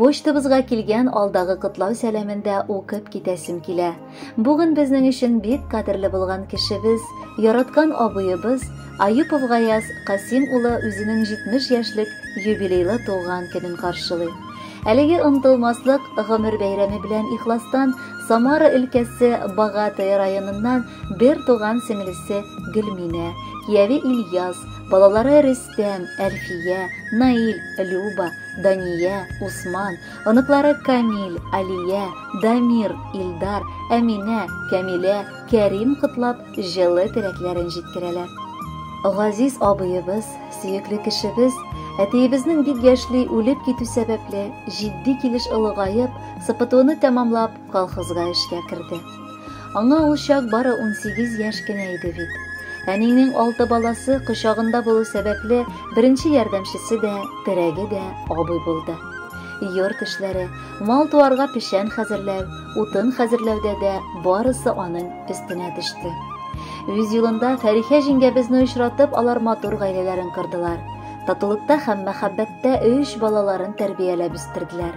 Почтабызга килгән алдагы котлау сәламен дә укып китәсем килә. Бүген безнең өчен бик кадерле булган кешебез, яраткан абыебыз Аюпов Гаяз Касим улы үзенең 70 яшьлек юбилейлы туган көнен каршылый. Әлеге онтылмаслык гомер бәйрәме белән ихластан Самара өлкәсе Богатый районыннан бер туган сеңлесе Гөлминә, кияви Ильяс, балалары Рис Рөстәм, Әлфия, Наил, Люба, Дания, Усман, оныклары Камил, Алия, Дамир, Илдар, Әминә, Кәмилә, Кәрим котлап, җылы теләкләрен җиткерәләр. Газиз абыебыз, сөекле кешебез, әтиебезнең бик яшьли үлеп китү сәбәпле, җитди килеш олыгаеп, СПТУны тәмамлап, колхозга эшкә керде. Аңа ул чак бары унсигез яшь кенә иде бит. Әнинең алты баласы кочагында булу сәбәпле, беренче ярдәмчесе дә, терәге дә абый булды. Йорт эшләре, мал туарга печән хәзерләү, утын хәзерләүдә дә барысы аның өстенә төште. Үз юлында Фәрихә җиңгәбезне очратып, алар матур гаиләләрен кордылар. Татулыкта һәм мәхәббәттә өч балаларын тәрбияләп үстерделәр.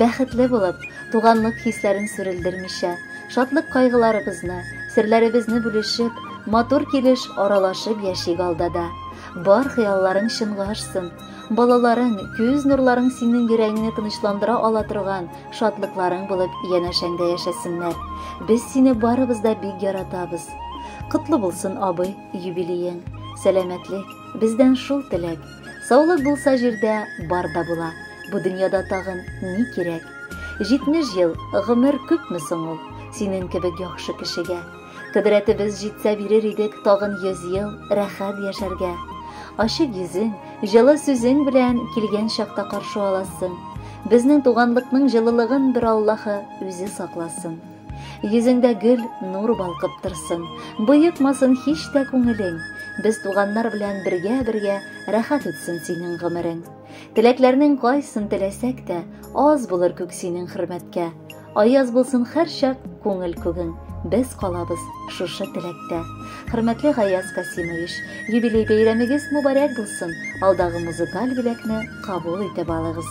Бәхетле булып, туганлык хисләрен сүрелдермичә, шатлык-кайгыларыбызны, серләребезне бүлешеп, матур килеш аралашып яшик алда да. Бар хыялларың чынга ашсын. Балаларың, күз нурларың синең йөрәгеңне тынычландыра ала торган шатлыкларың булып янәшәңдә яшәсеннәр. Без сине барыбыз да бик яратабыз. Котлы булсын, абый, юбилеең. Сәламәтлек, бездән шул теләк. Саулык булса җирдә бар да була. Бу дөньяда тагын ни кирәк? 70 ел гомер күпме соң ул? Синең кебек яхшы кешегә. Кодрәтебез җитсә бирер идек тагын 100 ел рәхәт яшәргә. Ачык йөзең, җылы сүзең белән килгән чакта каршы аласың. Безнең туганлыкның җылылыгын бер Аллаһы үзе сакласын. Йөзеңдә гөл, нур балкып торсын, Боекмасын һич тә күңелең. Без туганнар белән бергә-бергә Рәхәт үтсен синең гомерең. Теләкләрнең кайсын теләсәк тә, Аз булыр күк синең хөрмәткә. Аяз булсын һәрчак күңел күгең, Без калабыз шушы теләктә. Хөрмәтле Гаяз Касимович, юбилей бәйрәмегез мубарәк булсын, алдагы музыкаль бүләкне кабул итеп алыгыз.